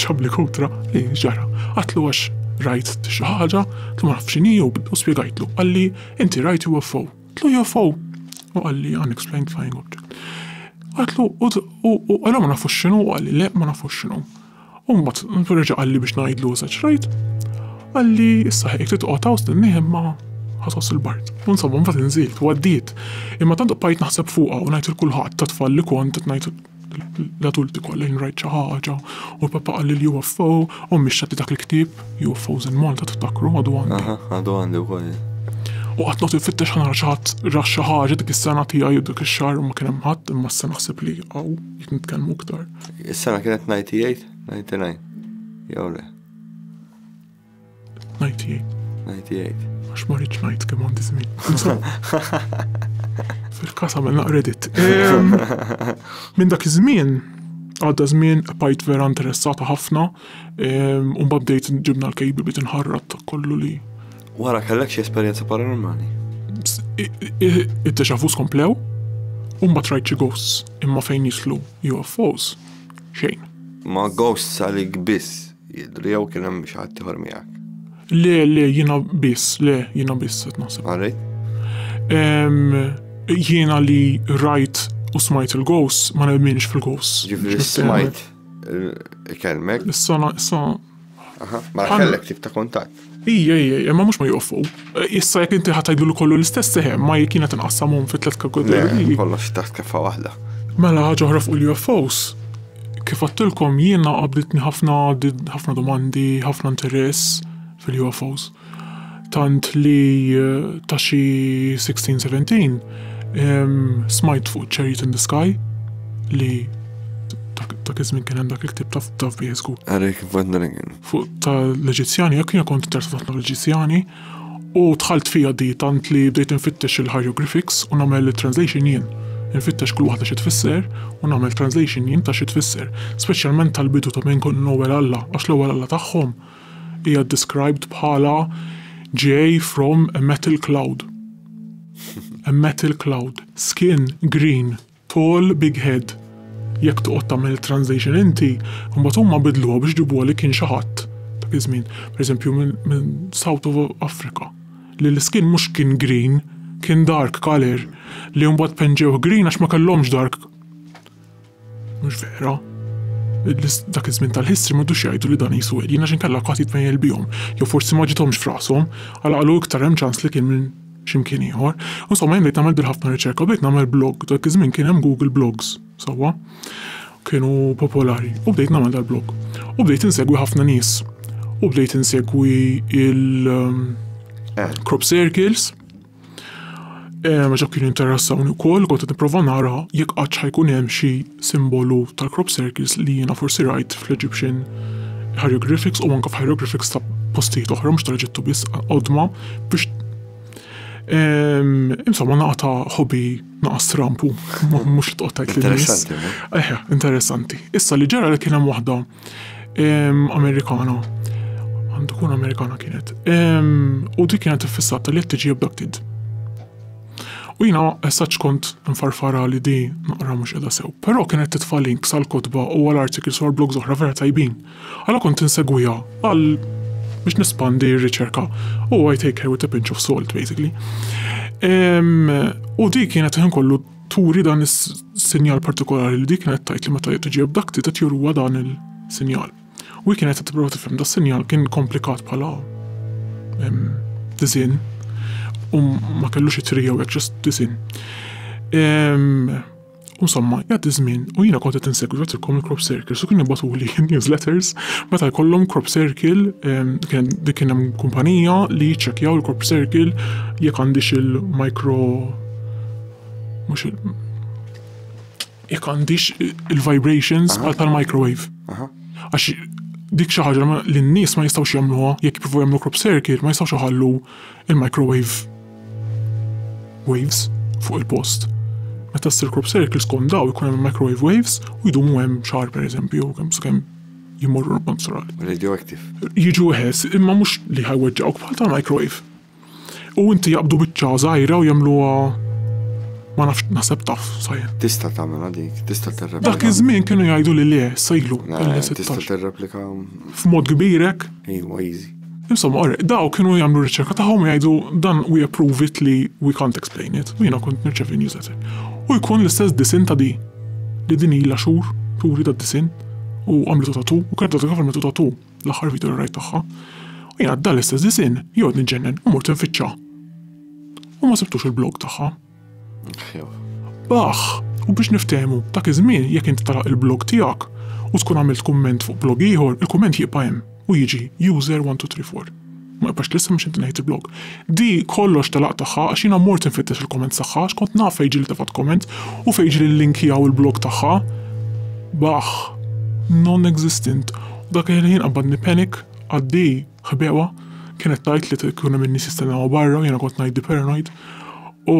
ċabli kutra, li ġara. Għatlu għax rajt xi ħaġa, tlu ma nafx x'inhi u spjegajtlu. Għalli inti rajt UFO. Tlu UFO. U għalli unexplained flying object. Għatlu u għallu ma nafux x'inhu għalli le ma nafux x'inhu. U mbagħad reġa' qalli biex ngħidlu eżatt x'rajt. Qalli issa ħejk trid toqgħod hawn stennih imma ħatoss il-bard. U insomma mbagħad inżilt u għaddiet. Imma tant bqajt naħseb fuqha u ngħid il kulħadd tat-tfal li kont qed ngħid l-adulti kollha jien rajt xi ħaġa u l-papa qalli li UFO, ommi xtaqti dak il-ktieb UFOs in Malta tiftakru għadu għandi. Għadu għandi wkoll. U qatt nagħtu fittex ħana xi ħadd ra xi ħaġa dik is-sena tiegħi dik ix-xahar ma kien hemm ħadd imma issa naħseb li hawn jekk nitkellmu iktar. Is-sena kienet 98, 99, jew le? 98. 98. Għax ma rridx ngħid kemm għandi żmien. Fil-każ għamilna credit. Minn dak iż-żmien għadda żmien bajt vera interessata ħafna, u bdejt ġibna l-kejbi bit inħarrat kollu li Wara kellek xi esperjenza paranormali? Id-deja vus komplew, u ma trajt xi ghosts, imma fejn jislu UFOs, xejn. Ma ghosts għalik biss jidru jew kien hemm xi ħadd ieħor miegħek? Le, le, jiena biss, le, jiena biss qed naħseb. Għalek? Jiena li rajt u smajt il-ghosts ma nemminx fil-ghosts. Ġifieri smajt kelmek. Issa, issa Aha, ma mela kellek tip ta' kuntatt. Ija, ija, ija, ma mhux ma joqfu. Eh, issa jekk inti ħadd lu kollu l-istess sehem, eh, ma jekk jiena tinqassamhom fi tliet kategoriji. Kollox taħt keffa waħda. Mela ħaġa oħra fuq l-UFOs. Kif għattilkom jiena qabditni ħafna ħafna domandi, ħafna interess fil-UFOs. Tant li ta' xi sixteen, seventeen smajt fuq Chariots in the Sky li dak iż-żmien kien hemm dak il-ktieb taf taf bih żgur. Eric Van Dringen. Fuq tal-Eġizzjani, jekk jiena kont interessat ħafna fl-Eġizzjani u dħalt fija di tant li bdejt infittex il-hieroglyphics u nagħmel it-translation jien. Infittex kull waħda xi tfisser u nagħmel translation jien ta' xi tfisser, speċjalment tal-bidu ta' minn kont l-ewwel Alla għax l-ewwel Alla tagħhom hija described bħala GA from a metal cloud. a metal cloud. Skin green, tall big head. Jekk toqgħod tagħmel it-translation inti, imbagħad huma bidluha biex ġibuha li kien xi ħadd dak iż-żmien, pereżempju minn South of Africa, li l-iskin mhux kien green, kien dark color, li mbagħad penġewh green għax ma kellhomx dark Mhux vera. Dak iż-żmien tal-history m'għadux jgħidu li dan jisu alien għax inkella qatt jitmejjel bihom. Jew forsi ma ġiethomx f'rashom, għal qalu iktar hemm ċans li kien minn x'imkien ieħor. Insomma jien bdejt nagħmel bil-ħafna riċerka u bdejt nagħmel blog. Dak iż-żmien kien hemm Google Blogs, sewwa? Kienu popolari u bdejt nagħmel dal-blog. U bdejt insegwi ħafna nies. U bdejt insegwi il- eh. crop circles, Ehm, ġa kien interessawni wkoll kont qed nipprova nara jekk qatt ħajkun hemm xi simbolu tal-crop circles li jiena forsi rajt fl-Egyptian hieroglyphics u anke f'hieroglyphics ta' postijiet oħra mhux tal-Eġittu biss qodma biex ehm, insomma naqta ħobi naqas trampu, mhux tqottajt li Interessanti. Eħe, interessanti. Issa li ġara li kien hemm waħda Amerikana. Għandu kun Amerikana kienet. U dik kienet fissata li tiġi abducted. U jina essaċ kont nfarfara li di naqra mux edha sew. Pero kienet titfa links għal kotba u għal artikli sor blog zoħra vera tajbin. Għala kont insegwija għal biex nispandi r-riċerka. U I take her with a pinch of salt, basically. U di kienet ħin kollu turi dan is-sinjal partikolari li di kienet tgħid li meta hi tiġi abducted qed juruha dan il-sinjal. U hi kienet qed tipprova tifhem da sinjal kien komplikat bħala disin u ma kellux it-tri jew hekk ġust disin. U somma, jgħaddi żmien u jiena kont qed insegwi għatilkom il-crop circles u kien jibbatuli newsletters meta jkollhom crop circle kien dik kien hemm kumpanija li ċċekkjaw il-crop circle jekk għandix il-micro Mhux il. Jekk għandix il-vibrations bħal tal-microwave. Għax dik xi ħaġa li n-nies ma jistgħux jagħmluha jekk jippruvaw jagħmlu crop circuit ma jistgħux iħallu il-microwave waves fuq il-post. Meta ssir crop circuit skont daw ikun hemm microwave waves u jdumu hemm xahar pereżempju kemm sakemm jmorru l-panzural. Radioactive. Jiġu ħes, imma mhux li ħajweġġawk bħal tal-microwave. U inti jaqbdu biċċa żgħira u jagħmluha ma nafx naħseb taf sajn. Tista' tagħmilha dik, tista' terreplika. Dak iż-żmien kienu jgħidu li le, sejlu. Tista' terreplika. F'mod kbirek? Iwa, easy. Insomma, orre, daw kienu jagħmlu riċerka tagħhom jgħidu dan we approve it li we can't explain it. U jiena kont nirċevi newsletter. U jkun l-istess disin ta' di. Li din ilha xhur, turi ta' disin u għamlitu tatu u kredatu kif għamlitu tatu. l-aħħar video li rajt tagħha, u jiena għadda l-istess disin jgħod niġġennen u mort nfittxa. U ma sibtux il-blog tagħha. Baħ, u biex niftehmu, dak iż-żmien jekk inti talaq il-blog tiegħek u tkun għamilt kumment fuq blog ieħor, il-kumment jibqa' hemm u jiġi user 1234. Ma nibqax lesta mhux inti li ħejt il-blog. Di kollox telaq tagħha għax jiena mort infittex il-comments tagħha għax kont naf fejn ġieli tefgħet comment u fejn ġieli l-link hija u l-blog tagħha. Baħħ. Non-existent. U dak il-ħin qabadni panic, għaddi, ħbewha, kienet tgħid li tkun hemm in-nies jistennewha barra u jiena kont ngħiddi paranoid. U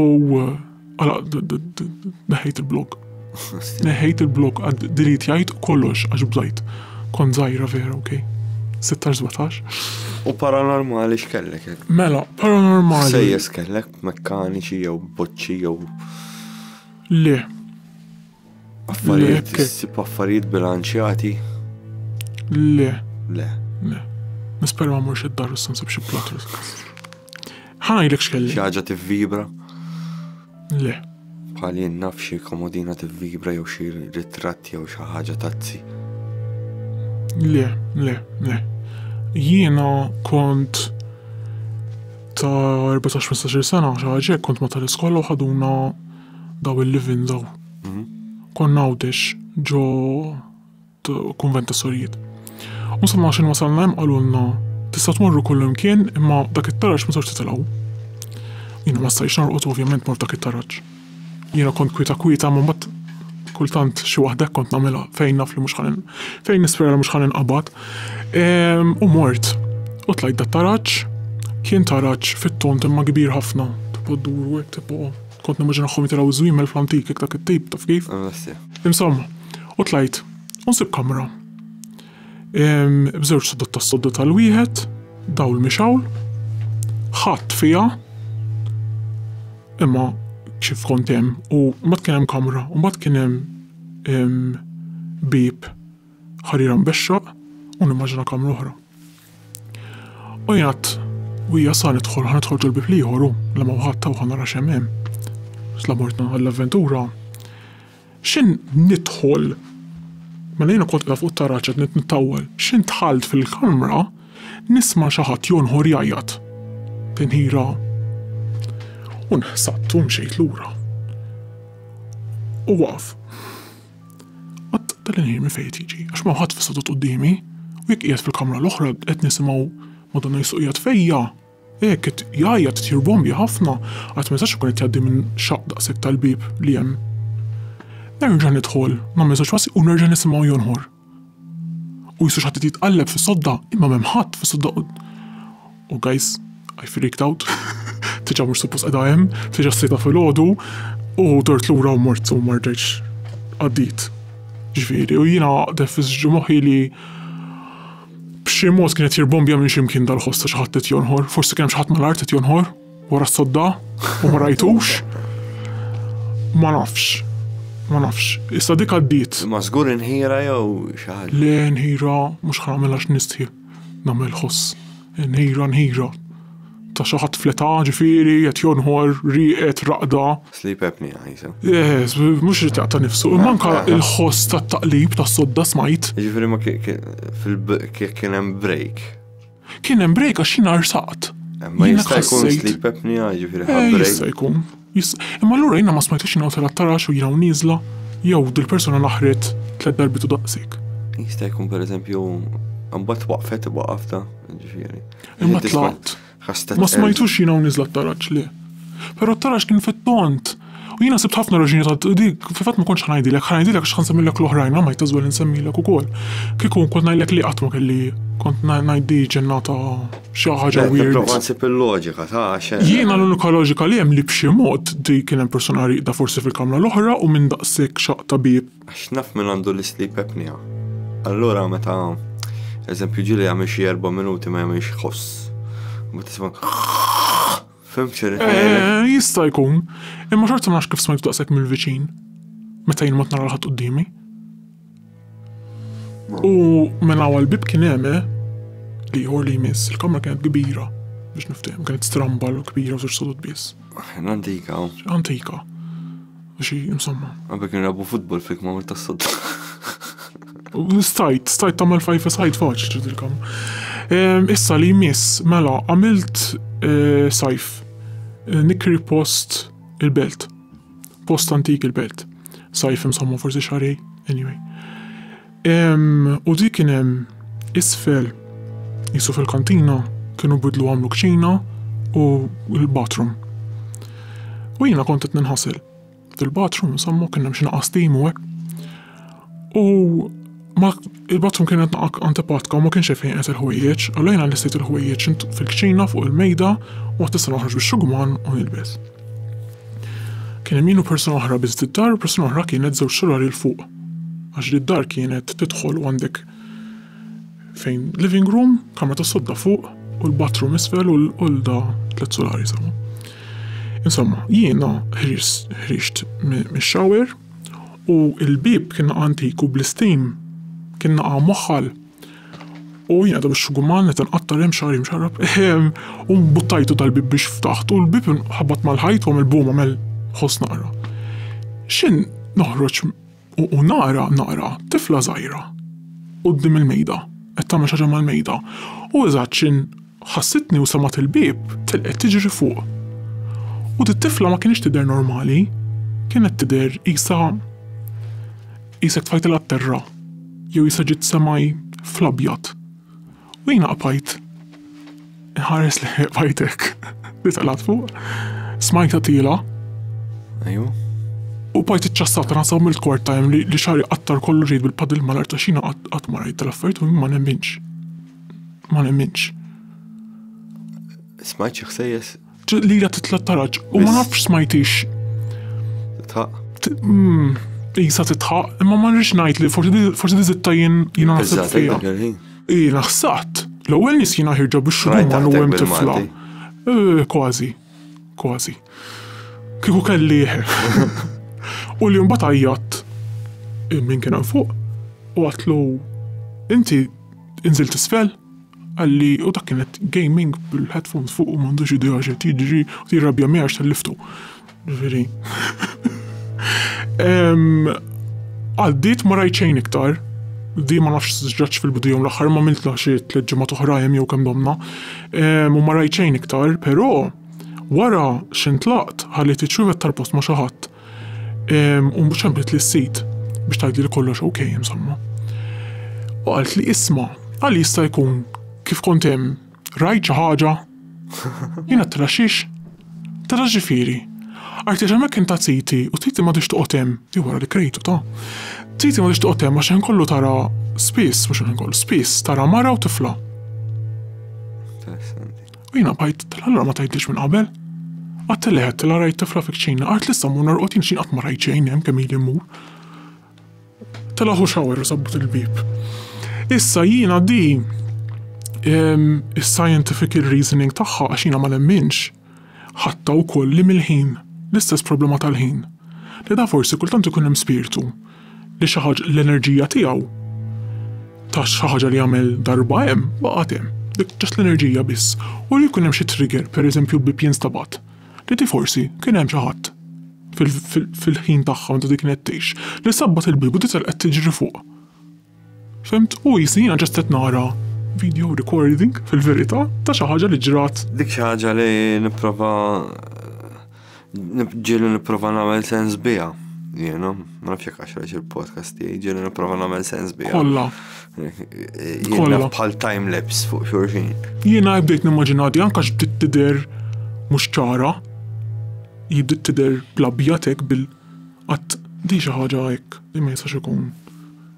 Għala, neħejt il-blog. Neħejt il-blog għad dirit jajt kollox għax bżajt. Kon zaħira vera, ok. 16-17. U paranormali x'kellek? Mela, paranormali. Sejjes kellek mekkaniċi jew boċċi jew. Le. Affarijiet, issib affarijiet bilanċjati? Le. Le. Le. Nispera ma morx id-dar issa nsib xi plot Ħanajlek x'kelli. Xi ħaġa tivvibra? Le. Bħal jien naf xi komodina tivvibra jew xi ritratt jew xi ħaġa tazzi. Le, le, le. Jiena kont ta' 14-15 sena xi ħaġa kont ma tal-iskola u ħaduna daw il-livin daw. Mhm. Konna għawdex ġo konvent ta' sorijiet. U sa' maċin wasalna jem għalunna tista' tmorru kullum kien imma dak it-taraġ ma sarx titilgħu. Jina ma stajx narqot ovvjament mor dak it-taraġ. Jina kont kwita kwita ma mbagħad kultant xi waħda kont nagħmilha fejn naf li mhux ħanin fejn nispera li mhux ħanin qabad. Ehm, u mort u tlajt dat taraġ kien taraġ fit-tont imma kbir ħafna. Tipo dur u hekk tipo Kont nimmaġinahom jitilgħu ż-żwiemel fl-antik hekk dak it-tip, taf kif? Insomma, u tlajt u nsib kamra. B'żewġ sodod tas-sodda tal-wieħed, dawl mixgħul, ħadd fiha, imma kif kont hemm u mbagħad kien hemm kamra u mbagħad kien hemm bieb ħarira mbexxaq u nimmaġina kamra oħra. U jgħat, u hija sa nidħol ħan nidħol ġol-bib liħor u la ma wħatta u ħanara xemmem. Sla mortna għall-avventura. Xin nidħol Mela jiena kont qiegħda fuq it-taraġ qed nittawwel. X'int dħalt fil-kamra nisma' xi ħadd jonħor jgħajjat. Tinħira u nħsabt u mxejt lura. U waqaf. Qatt tal-inħin minn fejn qed jiġi għax m'hawn ħadd fis-setgħa qudiemi u jekk qiegħed fil-kamra l-oħra qed nisimgħu Madonna Jesu qiegħed fejja. Hekk qed jgħajjat qed jirbombja ħafna qatt ma jistax ikun qed jgħaddi minn xaqq daqshekk tal-bieb li hemm. Nerġa' nidħol nagħmel żewġ passi u nerġa' nisimgħu jonħor. U jista' xi ħadd irid jitqalleb fis-sodda, imma m'hemm ħadd fis-sodda u u guys, I freaked out. Tiġa mhux suppost qiegħda hemm, tiġa sejta filgħodu u dort lura u mort u ma rġajtx għaddiet. Ġifieri, u jiena defiż ġie moħħi li b'xi mod kien qed jirbombja minn xi mkien dal-ħoss ta' xi ħadd qed jonħor, forsi kien hemm xi ħadd mal-art qed jonħor. Wara s-sodda u ma rajtux. Ma nafx. Ma nafx. Issa dik għaddiet. Ma żgur inħira jew xi ħaġa. Le nħira mhux ħamilha x'nistħi. Nagħmel ħoss. Nħira nħira. Ta' xi ħadd fleta ġifieri qed jonħor rieqed raqda. Sleep apnea jisem. Eh, mhux ritaq ta' nifsu, imma anke l-ħoss tat-taqlib tas-sodda smajt. Ġifieri ma kien hemm break. Kien hemm break għax jiena rsaqt. Ma jista' jkun sleep apnea jiġifieri ħadd eh, break. Jista' jkun. Imma allura jiena ma smajtux jiena tela' tarax u jiena u nieżla jew dil-persuna naħret tliet darbit u daqsik. Jista' jkun pereżempju mbagħad waqfet waqafta ġifieri. Imma tlaqt. Ma smajtux jiena u nieżla taraġ li. Però taraġ kien fit-tont U jiena sibt ħafna raġuni ta' dik, fil-fatt ma kontx ħa ngħidilek, ħa ngħidilek għax ħa nsemmilek l-oħrajn, ma might as well insemmilek ukoll. Kieku nkun ngħidlek li qatt ma kelli kont ngħiddi ġennata xi ħaġa weird. Prova nsib il-loġika ta' xejn. Jiena l-unika loġika li hemm li b'xi mod di kien hemm persuna riqda forsi fil-kamra l-oħra u minn daqshekk xaq ta' bieb. Għax naf min għandu l-sleep apnea. Allura meta eżempju ġieli jagħmel xi erba' minuti ma jagħmilx ħoss. Ma tisma' Fim xirrit ngħidlek? Eh, jista' jkun, imma xorta ma nafx kif smajtu daqshekk mill-viċin meta jien mot nara l-ħadd qudiemi. U mela għal bib kien hemm eh, li jħor li jmiss, il-kamra kienet kbira biex niftehem, kienet strambal u kbira u żewġ sodod biss. Antika. Antika. u xi insomma. Għabek nrabu futbol fik ma ta' sodda. Stajt, stajt tamel fajfa sajt faċ ġidilkom. Issa li jmiss, mela, għamilt eh, sajf, eh, nikri post il-belt, post antik il-belt. Sajf insomma forsi xarej, anyway. Hemm u dik kien hemm isfel qisu fil-kantina kienu bidlu għamlu kċina u l-bathroom. U jiena kont qed ninħasel fil-bathroom insomma kien hemm xi naqas tim u hekk. U ma il-bathroom kienet naqaq antipatka u ma kienx fejn qed il-ħwejjeġ, allura jiena listejt il-ħwejjeġ fil-kċina fuq il-mejda u għad tista' noħroġ bix-xugman u nilbes. Kien hemm jien u persuna oħra biss d-dar u persuna oħra kienet żewġ solari l fuq. Għax li d-dar kienet tidħol u għandek fejn living room, kamra ta' sodda fuq u l-bathroom isfel u l-olda tliet solari sawa. Insomma, jiena ħriġt mix-shower u l-bib kien antiku bl-istim kien naqa' moħħal U jien qiegħda bix-xguman qed inqatta' rimm xagħri mxarrab. U buttajtu tal-bib biex ftaħt u l-bib ħabat mal-ħajt u għamel bum għamel ħoss naqra. X'in noħroġ u nara nara tifla żgħira quddiem il-mejda qed tagħmel xi ħaġa mal-mejda u eżatt x'in Ħassitni u semgħet il-bieb tilqet tiġri fuq. U dit-tifla ma kinitx tidher normali, kienet tidher qisha qisek tfajtilha t-terra jew qisha ġiet semgħi fl-abjad. U jiena qbajt inħares lejha qbajt hekk li telgħet fuq. Smajtha tiela. Ajju. U bajt iċċassat rasa u mill-kort tajem li xari qattar kollu ġejt bil-padil malar ta' xina qatt ma rajt tal-affarijiet u ma nemminx. Ma nemminx. Smajt xi ħsejjes? Li la titla' taraġ u ma nafx smajtix. Tħaq. Mm, Isa titħaq, imma ma rridx ngħid li forsi diżitta jien jien naħseb fiha. Ii naħsat. L-ewwel nies jiena ħirġa biex xogħol u hemm tifla. Eh, kważi. Kważi. Kieku kelli. U li mbagħad għajjat minn kien hemm fuq u għatlu inti inżil tisfel għalli u dak kienet gaming bil-headphones fuq u m'għandux idea x'qed jiġri u tirrabja miegħi għax tal-liftu. Ġifieri. Għaddiet ma rajt xejn iktar, di ma nafx ġraċ fil-bidu jom l-aħħar ma miltla xi tliet ġimgħat oħra jew kemm domna. Ehm, u ma rajt xejn iktar, però wara x'intlaqt ħalli tiċċuvet tal-post ma' xi ħadd. Ehm, u mhux ċemplet li s-sid biex tgħidli li kollox ok, insomma. U qalt li isma' għal jista' jkun kif kont hemm rajt xi ħaġa. Jiena traxix Tara ġifieri. Għajt għax hemmhekk inta Titi u Titi m'għadhiex toqgħod hemm, hi wara li krejtu ta. Titi m'għadhiex toqgħod hemm għax il-ħin kollu tara spiss, mhux il-ħin kollu, spiss tara mara u tifla. U jiena bħajt, tal-allura ma tgħidlix minn qabel. Għadt li għedt, rajt tifla fik ċina, għart li issa mmur norqod jien x'in qatt ma rajt xejn hemm kemm ili mmur. Telaħ u xawer u sabbut il-bieb. Issa jiena di is-scientific reasoning tagħha għax jiena ma nemminx ħatta wkoll li mill-ħin, l-istess problema tal-ħin, li da forsi kultant ikun hemm spirtu li xi ħaġa l-enerġija tiegħu ta' xi ħaġa li jagħmel darba hemm baqgħet hemm, dik ġast l-enerġija biss, u li jkun hemm xi trigger, pereżempju l-bieb jinstabat. Titi forsi kien hemm xi ħadd, fil-ħin tagħha meta di kienet tgħix, li sabbat il-bieb u tisel qed tiġri fuq. Fimt? U qisni jiena ġast qed nara video recording fil-verità ta' xi ħaġa li ġrat. Dik xi ħaġa li nipprova ġieli nipprova nagħmel sens biha jiena. Ma nafx jekk għax il-podcast tiegħi ġieli nipprova nagħmel sens bi. Kollha. Kollha bħal time lapse fuq xulxin. Jiena bdejt nimmaġina di anke bdiet tidher mhux ċara. Jibdiet tidher bl-abjad hekk bil qatt di xi ħaġa hekk li ma jistax ikun.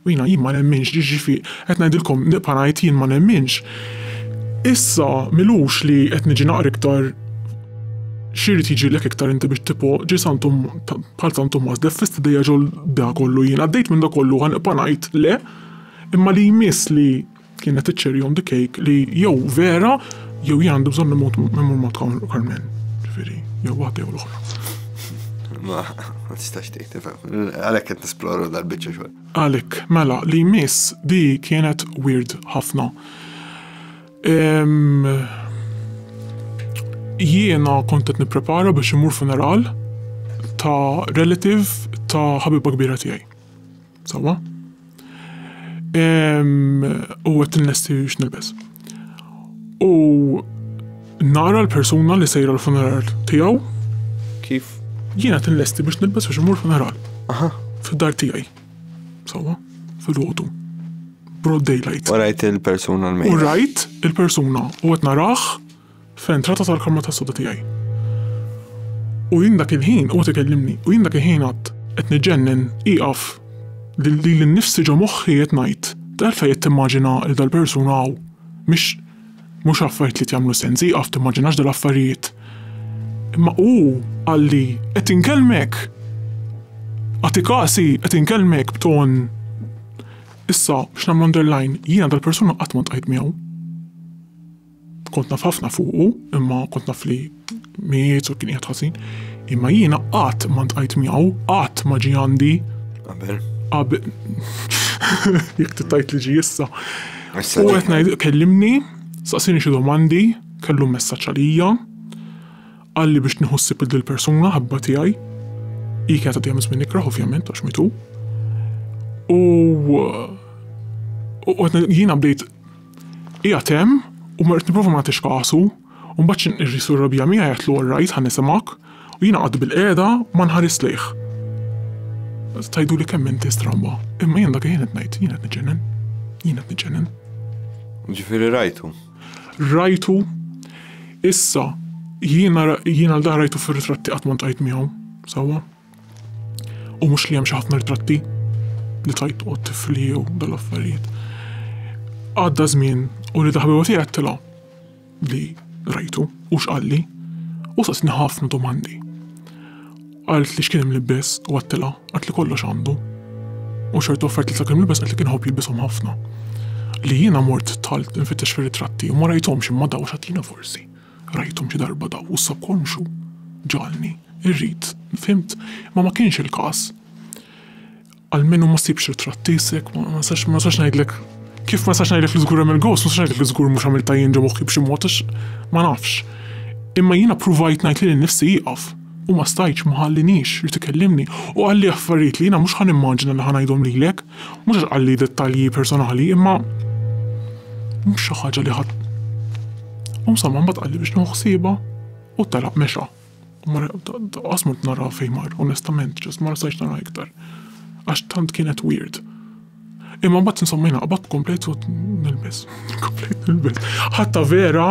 U jiena, jien ma nemminx, jiġifi, qed ngħidilkom, nibqa' ngħid jien ma nemminx. Issa m'ilux li qed niġi naqra iktar X'irid jiġilek iktar inti biex tipo ġi Santu bħal San Tumas deffist idejja ġol da kollu jien għaddejt minn da kollu ħa nibqa' ngħid le imma li jmiss li Kienet iċ-cherry on the cake li jew vera jew jien għandu bżonn imut memur ma tkawn Carmen. Ġifieri, jew waħda jew l-oħra. Ma, ma tistax tgħid tifhem. Għalhekk qed nisploru dal-biċċa xogħol. Għalhekk, mela, li miss di kienet weird ħafna. Jiena kont qed nipprepara biex imur funeral ta' relative ta' ħabiba kbira tiegħi. Sawa? U qed innesti x'nilbes. U nara l-persuna li sejra l-funeral tiegħu. Kif? Jiena qed innesti biex nilbes biex imur funeral. Aha. Fid-dar tiegħi. Sawa? Fil-ħotu. Broad daylight. U rajt il-persuna l-mejt. U rajt il-persuna u qed narah fl-entrata tal-kamra tas-soda tiegħi. U jien dak il-ħin huwa qed ikellimni, u jien dak il-ħin għadt, qed niġġennen, ieqaf, lili nnifsi ġo moħħi qed ngħid, Għalfejn qed timmaġina li dal-persuna hawn? Mhix mhux affarijiet li qed jagħmlu sens, ieqaf timmaġinax dal-affarijiet. Imma hu qalli, qed inkellmek! Agħti kasi, qed inkellmek b'ton. Issa, biex nagħmel underline, jiena dal-persuna qatt ma ntqajt miegħu. Kont naf ħafna fuqu, imma kont naf li miet u kien qiegħed ħażin. Imma jiena qatt ma ntqajt miegħu, qatt ma ġie għandi. Qabel. Qabel. Jekk tittajt li ġi issa. U qed ngħid kellimni, saqsini xi domandi, kellu messaġġ għalija. Qalli biex nieħu ssib il persuna ħabba tiegħi. Hi kienet għadija minn nikrah ovvjament għax mitu. U jiena bdejt Qiegħed hemm u mort nipprova ma nagħtix kasu, u mbagħad xi nqirri Sur Rabija miegħi għedtlu all right ħa nisimgħek, u jiena qgħadt bilqiegħda u ma nħarist lejh. Tgħiduli kemm inti stramba, imma jien dak il-ħin qed ngħid, jien qed niġġennen, jien qed niġġennen. Ġifieri rajtu? Rajtu. Issa, jiena jiena l-dan rajtu fir-ritratti qatt ma ltqajt miegħu, sewwa. U mhux li hemm xi ħafna ritratti li tajt qod tifli jew dal-affarijiet. Għadda żmien u li daħbewa tiegħi għattilha li rajtu u x'qalli u saqsni ħafna domandi. Għalt li x'kien imlibbes u għattilha għat li kollox għandu. U xorta offert li sakemm imlibbes għalt li kien ħobb jilbishom ħafna. Li jiena mort talt nfittex fir-ritratti u ma rajthomx imma daw xatina forsi. Rajthom xi darba daw u s-subkonxju ġagħalni rrid, fimt? Imma ma kienx il-każ. Almenu ma sibx ritratt tiesek, ma nistax ma nistax ngħidlek kif ma nistax ngħidlek li żgur hemm il-ghost, ma nistax ngħidlek li żgur mhux għamiltha jien ġo moħħi b'xi mod għax ma nafx. Imma jiena pruvajt ngħid lili nnifsi ieqaf. u ma stajtx ma ħalliniex irid ikellimni u qalli affarijiet li jiena mhux ħa nimmaġina li ħa ngħidhom lilek, mhux għax qalli dettalji personali imma mhux xi ħaġa li ħa U msamma mbagħad qalli biex nieħu ħsiebha u telaq mexa. U ma qasmut nara fejn mar, onestament, ġas ma stajtx nara iktar. Għax tant kienet weird. Imma mbagħad insomma jiena qabadt komplejt u nilbes. Komplejt nilbes. Ħatta vera.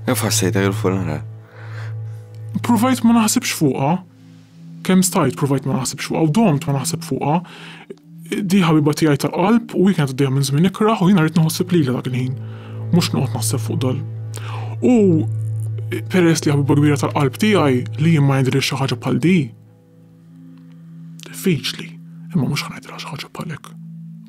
Kif ħassejta il-funeral? Provajt ma naħsibx fuqha. Kemm stajt provajt ma naħsibx fuqha u domt ma naħseb fuqha. Di ħabiba tiegħi tal-qalb u kienet għaddejja minn żmien ikraħ u jiena rrid naħseb lilha dak il-ħin. Mhux noqgħod naħseb fuq dal. U peress li ħabiba kbira tal-qalb tiegħi li jien ma jidhirix xi ħaġa bħal di, Diffiċli, imma mhux ħanajdilha xi ħaġa bħalek.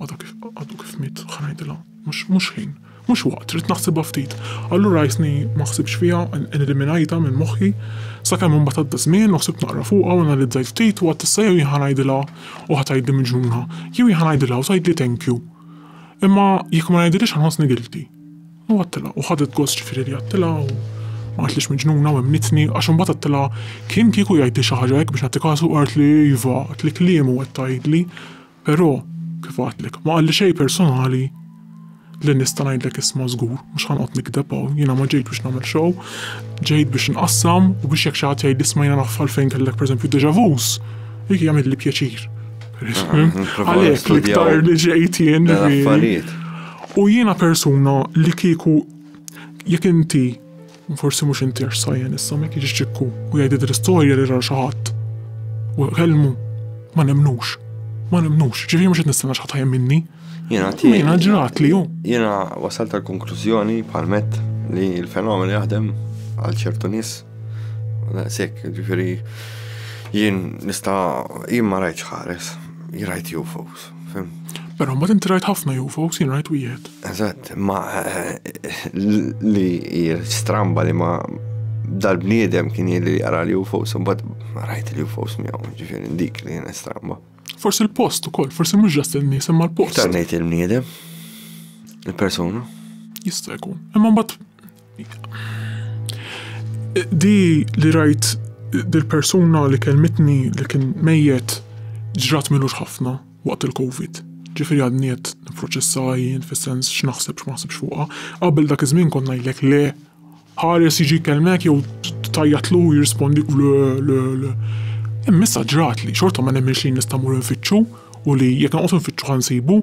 Għadu kif għadu kif mit ħanajdilha, mhux mhux ħin, mhux waqt, trid naħsibha ftit. Allura jisni ma ħsibx fiha, eliminajta minn moħħi, sakemm imbagħad għadda żmien u ħsibt naqra fuqha u analizzajt ftit u għad tista' jew ħanajdilha u ħatajdli miġnuna, jew ħanajdilha u tgħidli thank you. Imma jekk ma ngħidilhiex ħanħossni guilty. U għattilha, u ħadet gost ġifieri li għattilha, u ma qaltlhiex miġnuna u emmnitni, għax imbagħad għattilha, Kien kieku jgħidli xi ħaġa hekk biex nagħti kasu qaltli iva, qaltli kliem u qed tgħidli, però, kif għattlek, ma qalli xejn personali li nista' ngħidlek isma' żgur, mhux ħa noqgħod nikdeb hawn, jiena ma ġejtx biex nagħmel show, ġejt biex nqassam u biex jekk xi ħadd jgħidli isma' jiena naf għalfejn kellek pereżempju déjà vus, dik jagħmilli pjaċir. Għalhekk l-iktar li ġejt jien li. U jiena persuna li kieku jekk inti forsi mhux inti għax sajjen issa ma jiġix ċikku u jgħidid l-istorja li ra xi ħadd u kellmu ma nemmnux. Ma nemmnux, ġifieri mhux qed nistenna xi ħadd ħajjem minni. Jiena ti. Jiena ġratli hu. Jiena wasalt tal-konklużjoni bħal met li l-fenomen jaħdem għal ċertu nies. Sekk, ġifieri jien nista' jien ma rajtx ħares, jirajt UFOs. Pero ma tinti rajt ħafna UFOs, jien rajt wieħed. Eżatt, ma li stramba li ma dal-bniedem kien li jara li UFOs, un bad rajt li UFOs miegħu, ġifieri dik li jien stramba. Forsi l-post ukoll, forsi mhux ġast il-nies imma l-post. Tarnejt il-bniedem, il-persuna. Jista' jkun. Imma mbagħad Di li rajt dil-persuna li kelmitni li kien mejjet ġrat m'ilux ħafna waqt il-Covid. Ġifieri għadni qed nipproċessha jien fis-sens x'naħseb x'ma naħsibx fuqha. Qabel dak iż-żmien kont ngħidlek le, ħares jiġi jkellmek jew tgħajjatlu u jirrispondik le, le, le. Imma issa ġratli, xorta ma nemminx li nista' mmur infittxu u li jekk noqgħod infittxu ħa nsibu.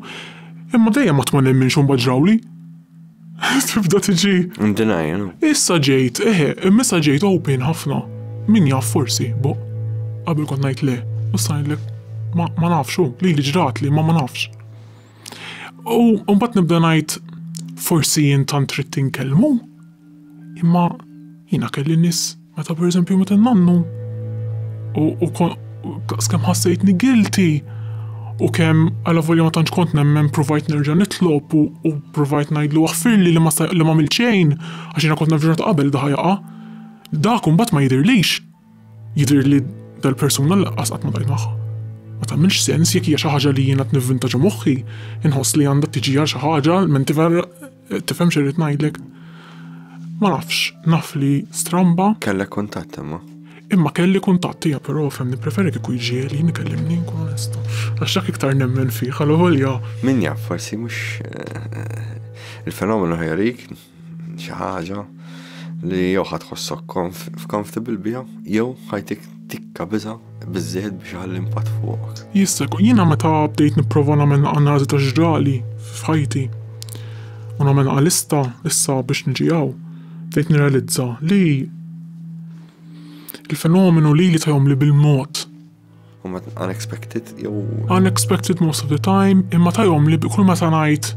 Imma dejjem qatt ma nemminx u mbagħad ġrawli. Tibda tiġi. Ndinaj, no? Issa ġejt, eħe, imissa ġejt open ħafna. Min jaf forsi, bo. Qabel kont ngħid le, u sajlek ma nafx, li li ġrat li ma ma nafx. U mbagħad nibda ngħid forsi jien tant trid tinkellmu, Imma jiena kelli nies meta pereżempju meta nannu u kemm ħassejtni guilty u kemm għala volja ma tantx kont nemmen provajt nerġa' nitlob u provajt ngħidlu aħfirli li ma li m'għamilt xejn għax jiena kont naf ġurnata qabel da ħajaqa'. Dak imbagħad ma jidhirlix. Jidhirli dal-persuna lanqas qatt ma dgħajt magħha. Ma tagħmilx sens jekk hija xi ħaġa li jiena qed nivvintaġġa moħħi, inħoss li għandha tiġi għal xi ħaġa, menti vera Tifhem xi rrid ngħidlek? Ma nafx, naf li stramba. Kellek kuntatt imma. Imma kelli kuntatt hija però fem nippreferi kieku jġieli nikellimni nkun onesta. Għax dak iktar nemmen fih għal volja. Min jaf forsi mhux eh, il-fenomenu ħerik xi ħaġa li jew ħadd ħossok f'comfortable biha jew ħajtik Tikka biża' biżżejjed biex iħalli impatt fuqok. Jista' jkun jiena meta bdejt nipprova nagħmel analiżi ta' x'ġrali f'ħajti u nagħmel lista issa biex niġi hawn, bdejt nirrealizza li l-fenomenu lili ta' jagħmli bil-mod unexpected jew unexpected most of the time imma ta' jagħmli kull meta ngħid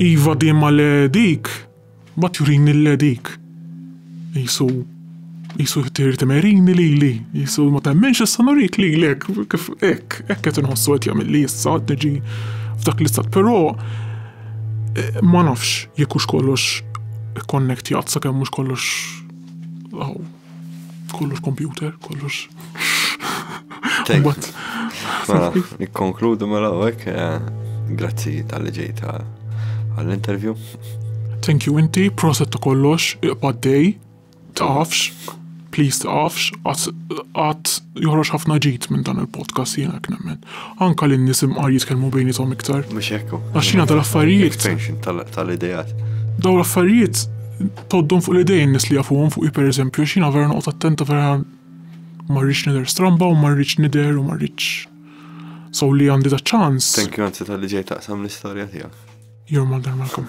iva dejjem le dik Ma turini l-ledik! Qisu, qisu trid imerini lili, qisu ma temminx issa nurik lilek, kif hekk, hekk qed inħossu qed jagħmilli issa qed niġi f'dak l-istat. Però ma nafx jekk hux kollox ikkonnektjat sakemm mhux kollox hawn. Kollox computer, kollox. Mela, nikkonkludu mela għek, eh, grazzi tal-li ġejta għall-interview. Thank you inti, proset ta' kollox, iqbad dej, taqafx, please taqafx, għat joħroġ ħafna ġit minn dan il-podcast jena knemmen. Anka li nisim għar jitkelmu bejnietom iktar. Mux ekku. Għaxina tal-affarijiet. Extension tal-idejat. Daw l-affarijiet Tgħoddhom fuq l-idejn in-nies li jafuhom fuqi pereżempju għax jiena vera noqgħod attenta vera ma rridx nidher stramba u ma rridx nidher u ma rridx so li għandi da ċans. Thank you anzi tal-li ġej taqsam l-istorja tiegħek. Your mother Malcolm.